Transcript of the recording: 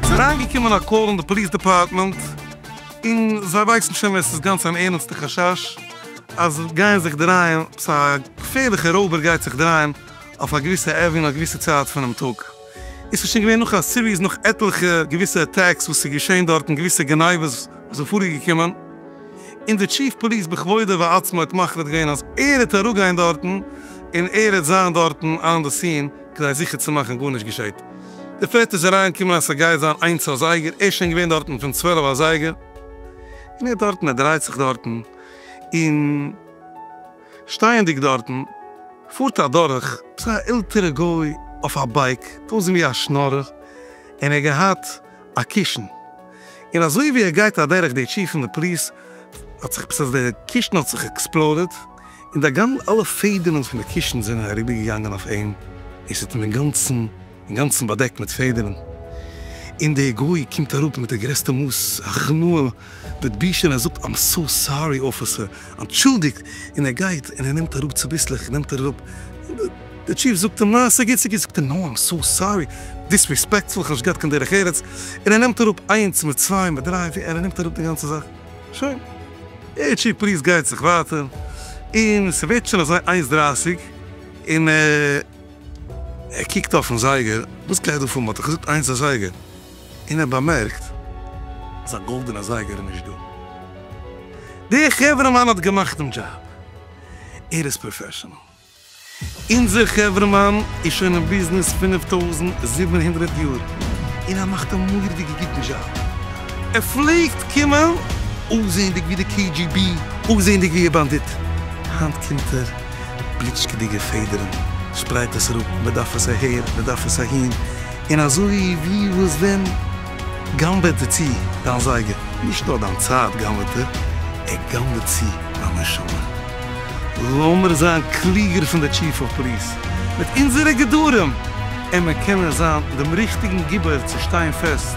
ס'איז אריינגעקומען א קאל אין די פאליס דעפארטמענט, און זיי ווייסן שוין ווען ס'איז גאנץ אן ערנסטע חשש אז עס גייען זיך דרייען, א געפערליכע רויבער גייט זיך דרייען אויף א געוויסע עוועניו א געוויסע צייט פונעם טאג. עס איז שוין געווען נאך א סיריעס נאך עטליכע געוויסע עטעקס וואס איז געשען דארטן געוויסע גניבות וואס זענען פארגעקומען און די טשיף פאליס בכבודו ועצמו האט מחליט געווען אז ער העט אראפגיין דארטן און ער העט זיין דארטן אן די סין כדי זיכער צו מאכן גארנישט געשעט די פרעס איז אריין געקומען אז סגייט זיין איינס אזייגער ער איז שוין געווען דארטן פון צוועלף אזייגער און ער איז דארטן ער דרייט זיך דארטן און. שטייענדיג דארטן פארט אדורך אזא עלטערע גוי אויף א בייק אויסזען ווי א שנארער און ער האט געהאט א קישן און אזוי ווי ער גייט אדורך די טשי פון די פליס האט זיך עפעס עס די קישן האט זיך עקספלאדעד און די גאנ אלע פעדערן פון די קישן זענען אריבערגעגאנגען אויף אים און ס'האט אים אינגאנצן אינגאנצן באדעקט מיט פעדערן, און דער גוי קומט אראפ מיט די גרעסטע מאס הכנעה מיט בושה און ער זאגט איים סאו סארי אפיסער, אנטשולדיגט, און ער גייט און ער נעמט אראפ צוביסלעך נעמט ער אראפ, דער טשיף זאגט אים נא ס'גוט ס'גוט, זאגט ער נא איים סאו סארי, דיסריספעקטפול כ'האב נישט געהאט קיין דרך ארץ, און ער נעמט אראפ איינס מיט צוויי מיט דריי פיר און ער נעמט אראפ די גאנצע זאך, שוין, דער טשיף פריז גייט זיך ווייטער, און ס'ווערט שוין אזוי איינס דרייסיג און. ער קוקט אויפן זייגער, וואס קען איך דא פאר מ'האט דאך געזאגט איינס א זייגער, און ער באמערקט אז א גאלדענע זייגער איז נישט דא. דער חברה'מאן האט געמאכט דעם דזשאב, ער איז פראפעשענעל. אונזער חברה'מאן איז שוין אין ביזנעס פֿינף טויזנט זיבן הונדערט יאר, און ער מאכט א מורא'דיגע גוטן דזשאב. ער פלעגט קומען אויסזעענדיג ווי די קעי דזשי בי, אויסזעענדיג ווי א באנדיט, היינט קומט ער בליטשקעדיגע פעדערן, שפרייט עס אראפ, מען דארף עס אהער, מען דארף עס אהין, און אזוי ווי וואס ווען גנב'עט ער צו דיין זייגער, נישט נאר דיין צייט גנב'עט ער, ער גנב'עט צו דיין נשמה. לאמיר זיין קלוגער פון די טשיף אוו פאליס מיט אונזערע גדרים, און מיר קענען זיין דעם ריכטיגן גיבור צו שטיין פעסט